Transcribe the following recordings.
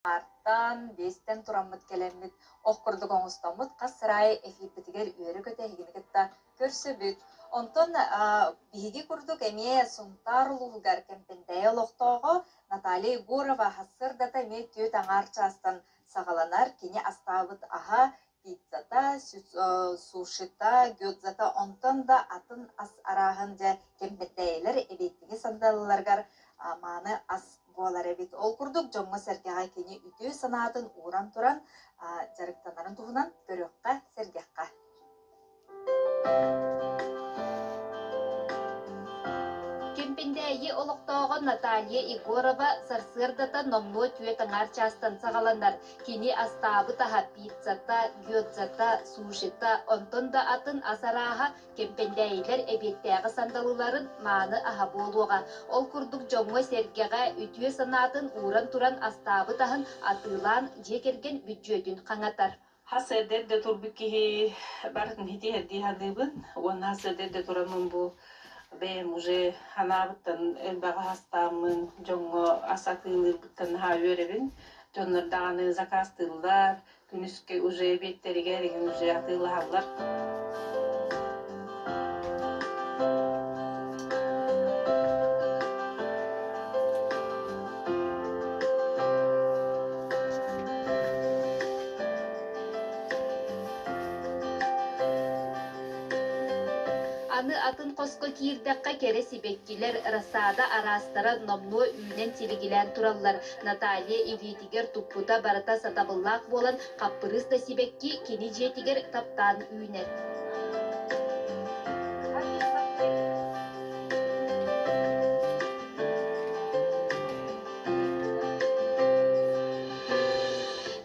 аартан, биэстэн тураммыт кэлэммит, ох курдук оҥостоммут хас сыраай эфирбитигэр үөрү көтө эһигини кытта көрсөбүт. Онтон биһиги курдук эмиэ Сунтаар улууһугар Кэмпэндэйэ олохтооҕо Наталья Егорова сырдата эмиэ түөрт аҥаар чаастан саҕаланар, кини астаабыт аһа пиццата сушита гёдзата онтон да атын ас арааһын дьэ кэмпэтэйэлэр эбиэттиги сандалыларыгар мааны ас буолар эбит ол курдук дьоҥҥо-сэргэҕэ кини үтүө санаатын ууран туран дьарыктанарын туһунан көрүөххэ сэргэххэ Кимпиндээйи олохтооҕо Наталья Егорова сарсыардата номнуо түөрт аҥаар чаастан саҕаланар. Кини астаабыт-аһа пиццата, гёдзата, сушита, онтон да атын ас арааһа кэмпэндээйилэр эбиэттээҕи сандалыларын мааны аһа буолуоҕа. Ол курдук дьоҥҥо-сэргэҕэ үтүө санаатын ууран туран астаабыт аһын атыылаан дьиэ кэргэн бүддьүөтүн хаҥатар. Хас эрдэ турбут киһи барын хитиһэрдии саныыбын уонна хас эрдэ тураммын бу бэйэм уже анаабыттан элбэҕи хастааммын дьоҥҥо ас атыылыырбыттан наһаа үөрэбин. Дьоннор даҕаны закастыыллар, күнүскэ уже эбиэттэригэр иҥин уже атыылаһаллар. Аны атын хоско киирдэххэ кэрэ сибэккилэр рассада араастара номнуо үүнэн силигилээн тураллар. Наталья илиитигэр туппута барыта сатабыллаах буолан Хаппырыыс да сибэкки кини дьиэтигэр таптаан үүнэр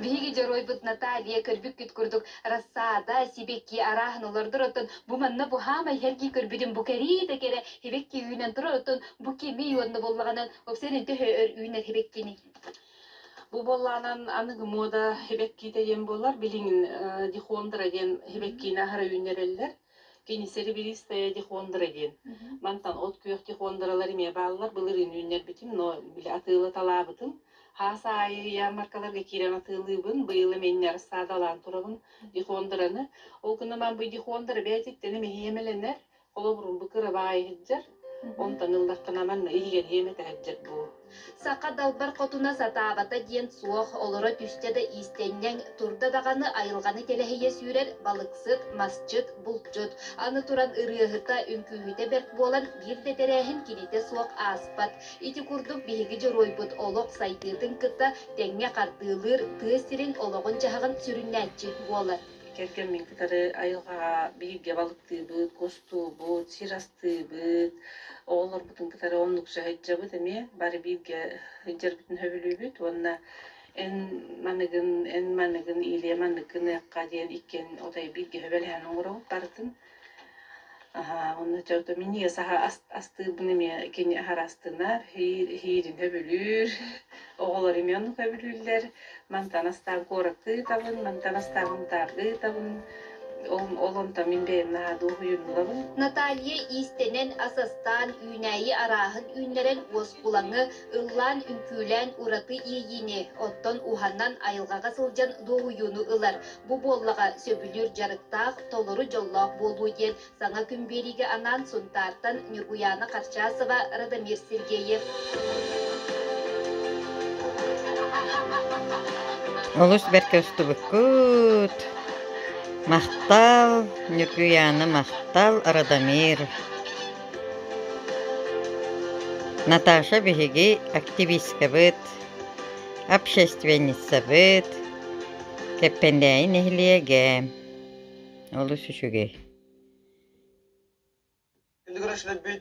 Биһиги дьоруойбут Наталья көрбүккүт курдук рассада, сибэкки арааһын олордор оттон бу манна буһаама иһэргии көрбүтүм бу кэрии да кэрэ сибэкки үүнэн турар оттон бу кими уонна боллаҕынан опсен үнтө өр үүнэр сибэккини Бу буоллаҕынан аныгы муода сибэккиитэ диэн буоллар билигин дихондра диэн сибэккиини аһара үүннэрэллэр. Кини серебристая дихондра диэн. Мантан от күөх дихондралары эмиэ бааллар. Былырыын үүннэрбитим, но били атыылаталаабытым. Хаас аайы ярмаркаларга киирэн атыылыыбын. Быйыл эмиэннэ рассаадалаан турабын дихондраны. Ол гынан баран бу дихондра бэйэтиттэн эмиэ иэмэлэнэр. Холобурун бу кырабаай иһитдер, онтан ыллаххына манна иһигэрийэм этэһэрдер бу. Саха далбар хотуна сатаабата диэн суох, олоро түстэ да иистэнньэҥ, турда даҕаны айылҕаны тэлэһийэ сүүрэр балыксыт, масчыт, булчут. Аны туран ырыаһыта, үҥкүүһүтэ бэрт буолан, биир да тэрээһин кинитэ суох ааспат. Ити курдук биһиги дьоруойбут олох сайдыытын кытта тэҥҥэ хардыылыыр тыа сирин олоҕун-дьаһаҕын сүрүннээччи буолар. кэргэммин кытары айылҕаҕа бииргэ балыктыыбыт, кустуубут, сир астыыбыт, оҕолорбутун кытары оннук сыһайдьабыт эмиэ бары бииргэ сылдьарбытын сөбүлүүбүт уонна эн маныгын эн маныгын иилиэ манныккын ыахха диэн иккиэн отой бииргэ сөбүлэһэн оҥоробут барытын Аһаа, уонна чөгдө минньигэс аһа ас- астыырбын эмиэ кини аһара астынар, иир иһиирин өбүлүүр. Оҕолор эмиэ оннук өбүлүүллэр. Мантан астаан куоракка ыытабын, мантан астаабын таарга ыытабын. Ол ол онтон мин бэйэм наһаа дуоһуйуннулабын. Наталья иистэнэн, ас астаан, үүнээйи арааһын үүннэрэн, уоскулаҥы, ыллаан, үҥкүүлээн ураты иэйиини, оттон уһанан айылҕаҕа сылдьан дуоһуйууну ылар. Бу буоллаҕа сөбүлүүр дьарыктаах, толору дьоллоох буолуу диэн саҥа күн биэриигэ анаан Сунтаартан Ньургуйаана Харчасова, Радомир Сергеев. Олус бэркэ устубуккут. Махтал, Ньургуйаана Махтал, Радомир. Наташа биһиги активисткабыт, общественницабыт, Лэппэндээйи нэһилиэгэ олус үчүгэй